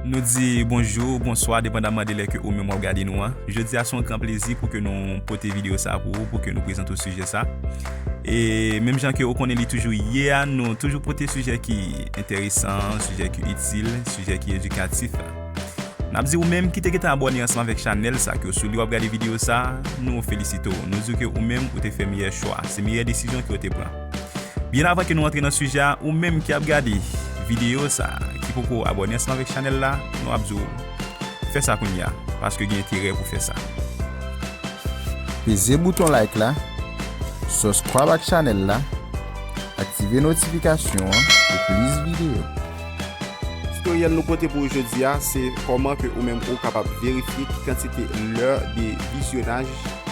Nou di bonjou ou bonswa depandaman de lè ke ou menm wap gade nou an. Jodi a se yon gran plezi pou ke nou pote video sa pou ou, pou ke nou prezante ou sijè sa. E menm jan ke ou konnen li toujou ye a, nou toujou pote sijè ki enteresan, sijè ki itil, sijè ki edikatif. Nap di ou menm ki te gentan abòne ansanm avèk chanèl sa, ke ou sou li wap gade video sa, nou felisite ou. Nou di ou ke ou menm ou te fè meyè chwa, se meyè desizyon ke ou te pran. Byen avan ke nou antre nan sijè a ou menm ki ap gade video sa ki poko abòne ansanm avèk chanèl la nou ap di w fè sa kounye a paske gen enterè pou fè sa. Peze bouton like la, suscribe ak chanèl la, aktive notifikasyon an pou plis video. Tutoriel nou pote pou ou jodi a se koman ke ou menm ou kapab verifye ki kantite lè de vizyonaj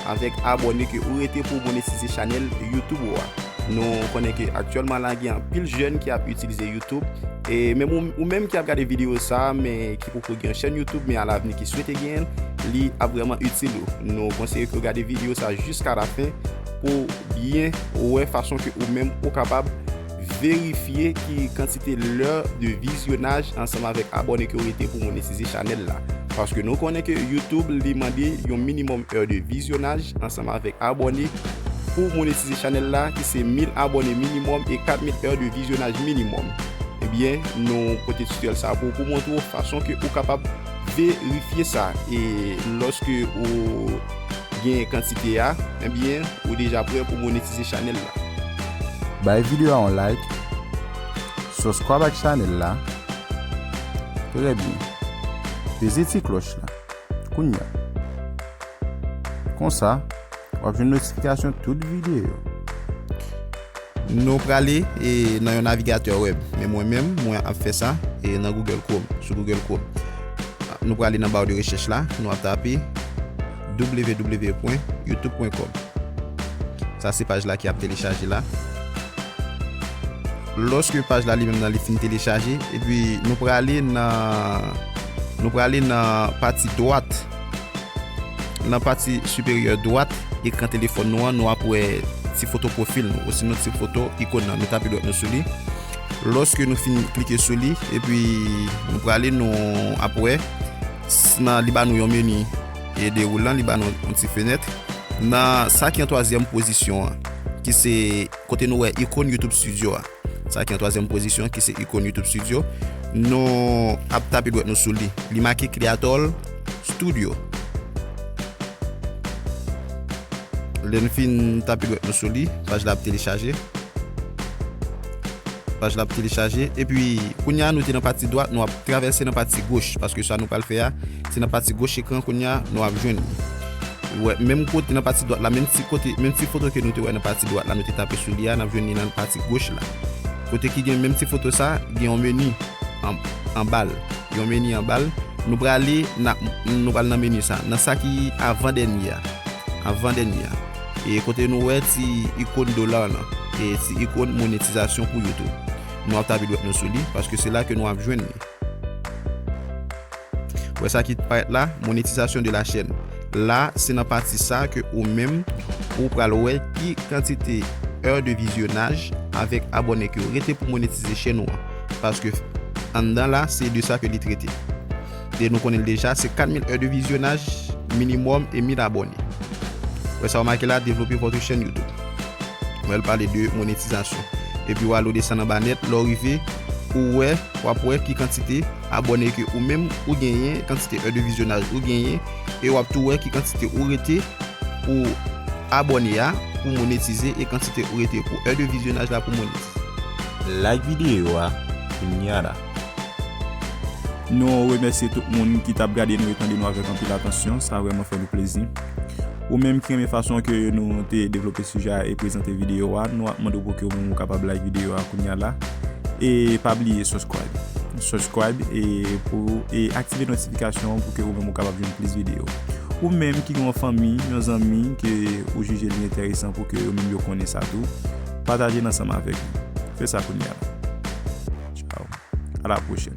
avèk abone ke ou rete pou monetize chanel YouTube ou a. Nou konnen ke aktyèlman la gen anpil jèn ki ap itilize YouTube e menm ou menm ki ap gade video sa men ki poko gen yon chèn YouTube men a lavni ki swete genyen li ap vreman itil ou. Nou konseye ke ou gade video sa jiska lafen pou byen wè fason ke ou menm ou kapab Verifye ki kantite lè de vizyonaj ansanm avèk abòne ke ou rete pou monetize chanèl la. Paske nou konnen ke YouTube li mande yon minimum heure de vizyonaj ansanm avèk abòne pou monetize chanèl la ki se 1000 abòne minimum e 4000 heure de vizyonaj minimum. Ebyen nou pote tutoriel sa pou ou pou montre ou fason ke ou kapab verifye sa e loske ou Genyen kantite a, enbyen ou deja prè pou monetize chanèl la. Bay video a yon like. Subscribe ak chanèl la. Trè byen. Peze ti klòch la. Kounya. Konsa, wap jwenn notifikasyon tout video. Nou prale e nan yon navigatè web. Men mwen menm, mwen ap fè sa e nan Google Chrome, sou Google Chrome. Nou prale nan bar de recherche la, nou ap tape www.youtube.com. Sa se paj la ki ap telechaje la. Lòske paj la li menm nan li fin telechaje, epi nou prale nan nou prale nan pati dwat Nan pati siperyè dwat ekran telefòn nou an, nou ap wè ti foto pwofil nou, osinon ti foto ikon nan. Nou tape dwèt nou sou li. Lòske nou fin klike sou li, epi nou prale, nou ap wè nan li ba nou yon meni dewoulan, li ba nou yon ti fenèt. Nan sa ki an twazyèm pozisyon an, ki se kote nou wè ikon YouTube Studio a. Sa ki an twazyèm pozisyon ki se ikon YouTube Studio. Nou ap tape dwèt nou sou li. Li make Creatol Studio. Lè nou fin tape dwèt nou sou li, paj la ap telechaje. Paj la ap telechaje. E pi, kounya nou te nan pati dwat, nou ap travèse nan pati goch. Paske sa nou pral fè a. Se nan pati goch ekran kounya nou ap jwenn li. Ou wè menm kote nan pati dwat la menm ti kote menm ti foto ke nou te wè nan pati dwat la nou te tape sou li a nap jwenn li nan pati goch la. Kote ki gen menm ti foto sa gen yon meni anbal gen yon meni anbal nou prale na nou pral nan meni sa nan sa ki avan dènye a avan dènye a e kote nou wè ti ikon dolar lan e ti ikon monetizasyon pou youtube nou ap tape dwèt nou sou li paske se la ke nou ap jwenn li. Wè sa ki parèt la, Monétisation de la chaîne. La, se nan pati sa ke ou menm ou pral wè ki kantite heures de visionnage avèk abòne ke ou rete pou monetize chèn ou an. Paske anndan la, se de sa ke li trete. E nou konnen l deja, se 4000 heures de visionnage minimum e 1000 abòne. Wè sa ou make la, Développer votre chaîne YouTube. Wè l pale de monétisation. Epi ou ale ou desann anba nèt, lè ou rive, ou wè, wap wè ki kantite. Abòne ke ou menm ou genyen, kantite è de vizyonaj ou genyen, e wap tou wè ki kantite ou rete pou abòne a pou monetize e kantite ou rete pou è de vizyonaj la pou monetize. Like videyo a kounya la. Nou remèsye tout moun ki tap gade nou e tande nou avèk anpil atansyon, sa vrèman fè nou plezi. Ou menm ki renmen fason ke nou te devlope sijè a e prezante videyo a, nou ap mande w pou ke ou menm ou kapab like videyo a kounya la. E pa bliye subscribe. Subscribe e pou e aktive notifikasyon an pou ke ou menm ou kapab jwenn plis videyo. Ou menm ki gen yon fanmi, yon zanmi ke ou jije li enteresan pou ke yo menm yo konnen sa tou, pataje l ansanm avèk li. Fè sa kounya. Ciao. A la pwochèn.